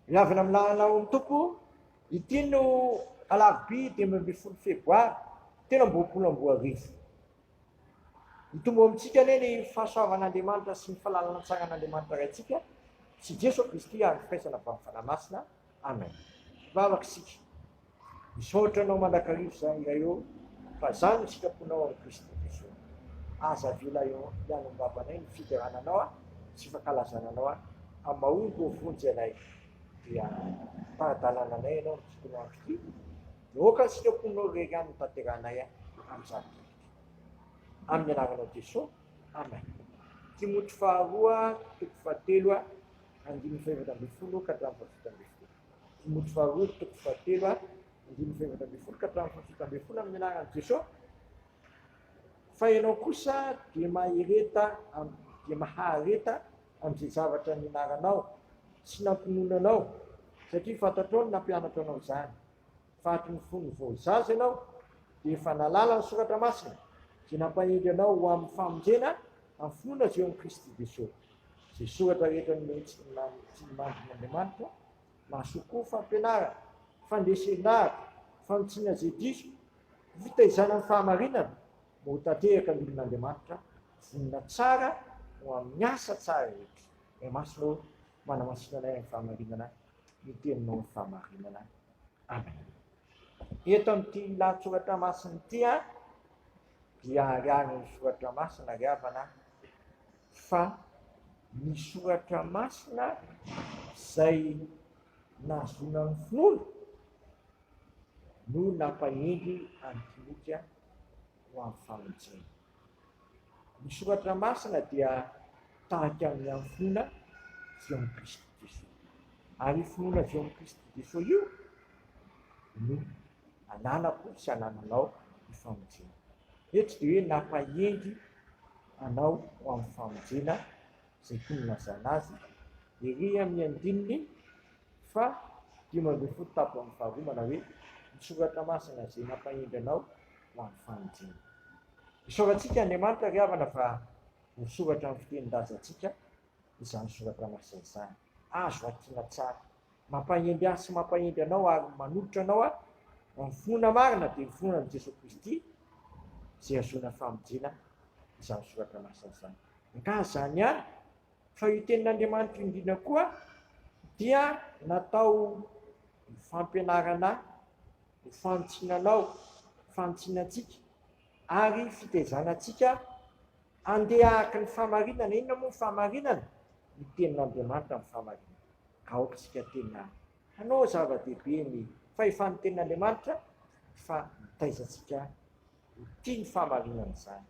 Ny avy amin'ny lalanao Tompo, ity no alarobia dimy ambin'ny folo febroary telo amby roapolo amby roa arivo. Hitombo ao amintsika anie ny fahasoavan'Andriamanitra sy ny falalana tsaran'Andriamanitra Raintsika sy Jesoa Kristy ary ny firaisana avy amin'ny Fanahy Masina. Amen vavaka isika misaotra anao mandrakariva zany iray ô fa zany ny sitraponao amin'i Kristy Jesoa aza avela hianonbavanay ny fiderana anao a sy fankalazana anao a amin'ny mahomby ô vonjy anay dia tara-dalana anay ianao ny tontolo andro ty dia ôka ny sitraponao rery any tanteranay a amin'izany tontolo amin'ny anaranao Jesoa amen Timoty faharoa toko fahatelo a andininy fahefatra ambin'ny folo ka hatramin'ny fahafito ambin'ny folo, Timoty faharoa toko fahatelo a, andininy fahefatra ambin'ny folo ka hatramin'ny fahafito ambin'ny folo amin'ny anaran'i Jeso, fa ianao kosa dia mahereta am dia mahareta amin'izay zavatra nianaranao sy nampinomnanao, satria fantatrao ny nampianatra anao izany, Faty ny fony vao zaza ianao, dia efa nahalala ny Soratra Masina, izay nampahendry anao ho amin'ny famonjena amin'ny finoana avy eo amin'i Kristy Jesoa. Izay soratra rehetra nomeny tsy miandrony Andriamanitra, mahasoa koa fampianarana, fandresen-dahatra, fanitsiana izay diso, fitaizana ny fahamarinana, mba ho tanteraka ny olon'Andriamanitra vonona tsara ho amin'ny asa tsara rehetra. Ray Masina ô, manamasina anay amin'ny fahamarinana, ny Teninao ny fahamarinana. Amen. Eto amin'ity lahatsoratra masina ity a, dia hariharin'ny soratra masina ry havana fa ny soratra masina izay nahazoana ny finoana no nampahendry an'i Timoty ho amin'ny famonjena. Ny soratra masina dia tahaka ny amin'ny finoana avy ao amin'i Kristy Jesoa. Ary io finoana avy ao amin'i Kristy Jesoa io no ananako sy anananao ny famonjena. Eto dia hoe nampahendry anao ho amin'ny famonjena izay toy ny nazana azy ery amin'ny andininy fa dimy ambin'ny folo tabo amin'ny faharoa manao hoe, ny soratra masina izay nampahendry anao ho amin'ny fanenjehana. Isaorantsika Andriamanitra ry havana fa voasoratra amin'ny fitenin-drazantsika izany soratra masina izany. Azo hakiana tsara. Mampahendry ahy sy mampahendry anao ary manolotra anao aho ho amin'ny finoana marina dia ny finoana amin'i Jesoa Kristy izay hahazoana famonjena izany soratra masina izany. Angaha izany ihany fa io tenin'Andriamanitra io indrindra koa dia natao ho fampianarana Ho fanintsiana anao, fanintsiana antsika, ary fitaizana antsika handeha araka ny fahamarinana. Inona moa ny fahamarinana? Ny Tenin'Andriamanitra ny fahamarinana. Ka aoka isika tena hanao zava-dehibe ny fahefan'ny Tenin'Andriamanitra, fa mitaiza antsika ho tia ny fahamarinana izany.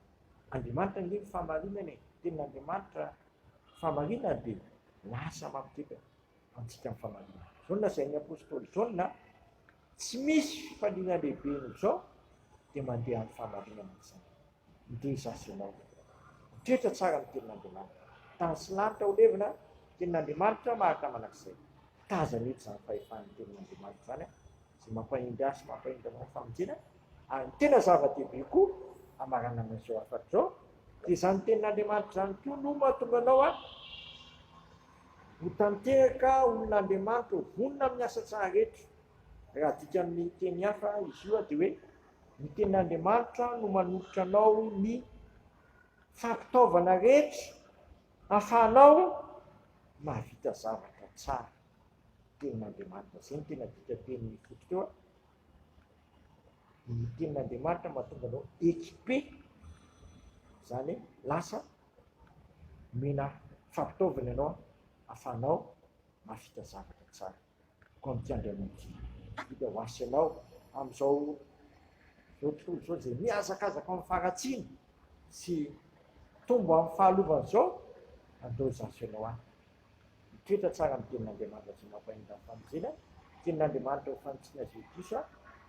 Andriamanitra ange ny fahamarinana e! Tenin'Andriamanitra fahamarinana dia lasa mampikepaka. antsika amin'ny famarinana. Izao ny lazain'ny apostoly Jaona, Tsy misy fifaliana lehibe noho izao, dia mandeha amin'ny famarinana ry zanakao. Ndeha izaso ianao. Mitoetra tsara amin'ny tenin'Andriamanitra. Tany sy lanitra ho levona, ny tenin'Andriamanitra maharitra mandrakizay. Tazany eto izany fahefan'ny tenin'Andriamanitra izany, izay mampahendry ahy sy mampahendry anao amin'ny famonjena, ary ny tena zava-dehibe koa hamaranana izao hafatra izao, dia izany tenin'Andriamanitra izany koa no mahatonga anao a. Ho tanteraka olon'Andriamanitra ho vonona amin'ny asa tsara rehetra. Raha adika amin'ny teny hafa, izy io dia hoe ny tenin'Andriamanitra no manolotra anao ny fampitaovana rehetra hahafahanao mahavita zavatra tsara. Tenin'Andriamanitra, izay no tena dika teny foto teo. Ny tenin'Andriamanitra mahatonga anao équipé, izany hoe lasa Omena fampitaovana ianao ahafahanao mahavita zavatra tsara. Koa amin'ity andro iainana ity, hita ho asa ianao amin'izao tontolo izao izay mihazakazaka amin'ny faharatsiana sy mitombo amin'ny fahalovana izao, andao izy asa ianao any. Mitoetra tsara amin'ny tenin'Andriamanitra izay mampahendry amin'ny famonjena, tenin'Andriamanitra ho fanitsiana izay ho diso,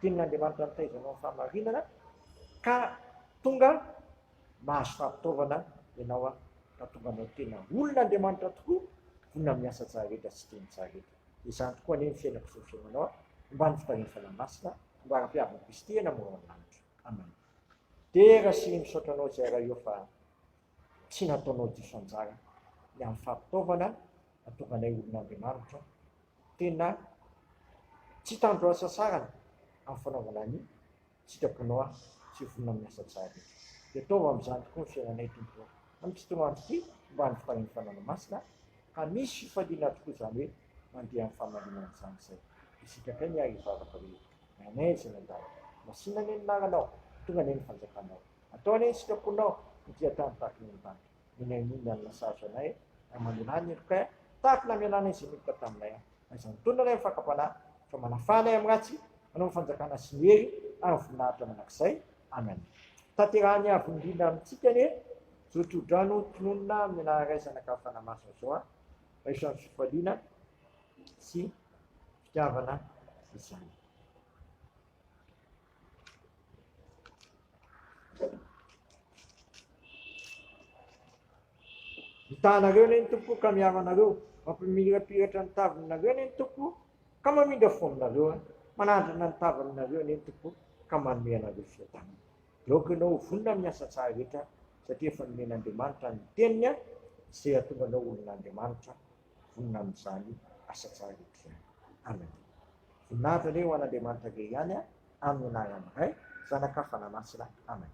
tenin'Andriamanitra mitaiza anao amin'ny fahamarinana ka tonga mahazo fahapitaovana ianao an, ka tonga anao tena olon' Andriamanitra tokoa, vonona miasa tsara rehetra sy teny tsara rehetra. Dia izany tokoa anie ny fiainako sy ny fiainanao an, omba ny fitarihan'ny Fanahy Masina, omba ara-piavin'i Kristy hena mora ao amin'ny lanitra. Amen. Dera sy misaotra anao izay Ray o fa tsy nataonao diso anjara ny amin'ny fahapitaovana nahatonga anay olon' Andriamanitra, tena tsy hitandro lasasarana amin'ny fanaovana ny. sitraponao aho sy ho vonona amin'ny asa tsara rehetra. Dia ataovy amin'izany tokoa ny fiainanay, Tompo ô. Amin'ity tontolo andro ity, homba ny fitahian'ny Fanahy Masina aho, ka misy fifaliana tokoa izany hoe mandeha amin'ny fahamarinana izany izay. Dia sitrakay ny ahy hivavaka hoe, Rainay izay any an-danitra, masìna anie ny anaranao, tonga anie ny fanjakanao. Atao anie ny sitraponao ho dia tany tahaka ny an-danitra. eny amin'ny Inde alina sarotra anay ary mandeha any Irkut tahaka ny namelanay izay nihita taminay aho. Aiza ny tolona ilay fakam-panahy fa manafaha anay amin'ny ratsy manao ny fanjakana sy ny hery ary ny voninahitra mandrakizay. Amen. Tanterahany avo indrindra amintsika anie izao tsodrano tononina amin'ny anararaisana ka fanahy-masina izao an! Raiso amin'ny fifaliana sy fitiavana izany. Mitahanareo anie ny Tompo ka miaro anareo, mampimirapiratra ny tavininareo anie ny Tompo ka mamindra fo aminareo an! Manandrana ny tavininareo anie ny Tompo ka manome anareo fiadanana. Dia aoka ianao ho vonona amin'ny asa tsara rehetra satria efa nomen'Andriamanitra ny Teniny izay hahatonga anao olon'Andriamanitra. vonona amin'izany asa tsara ety ihany. Anandria. Voninahitra anie ho an'Andriamanitra ve ihany amin'ny anaran'ny Ray, Zanaka, Fanahy Masina. Amena.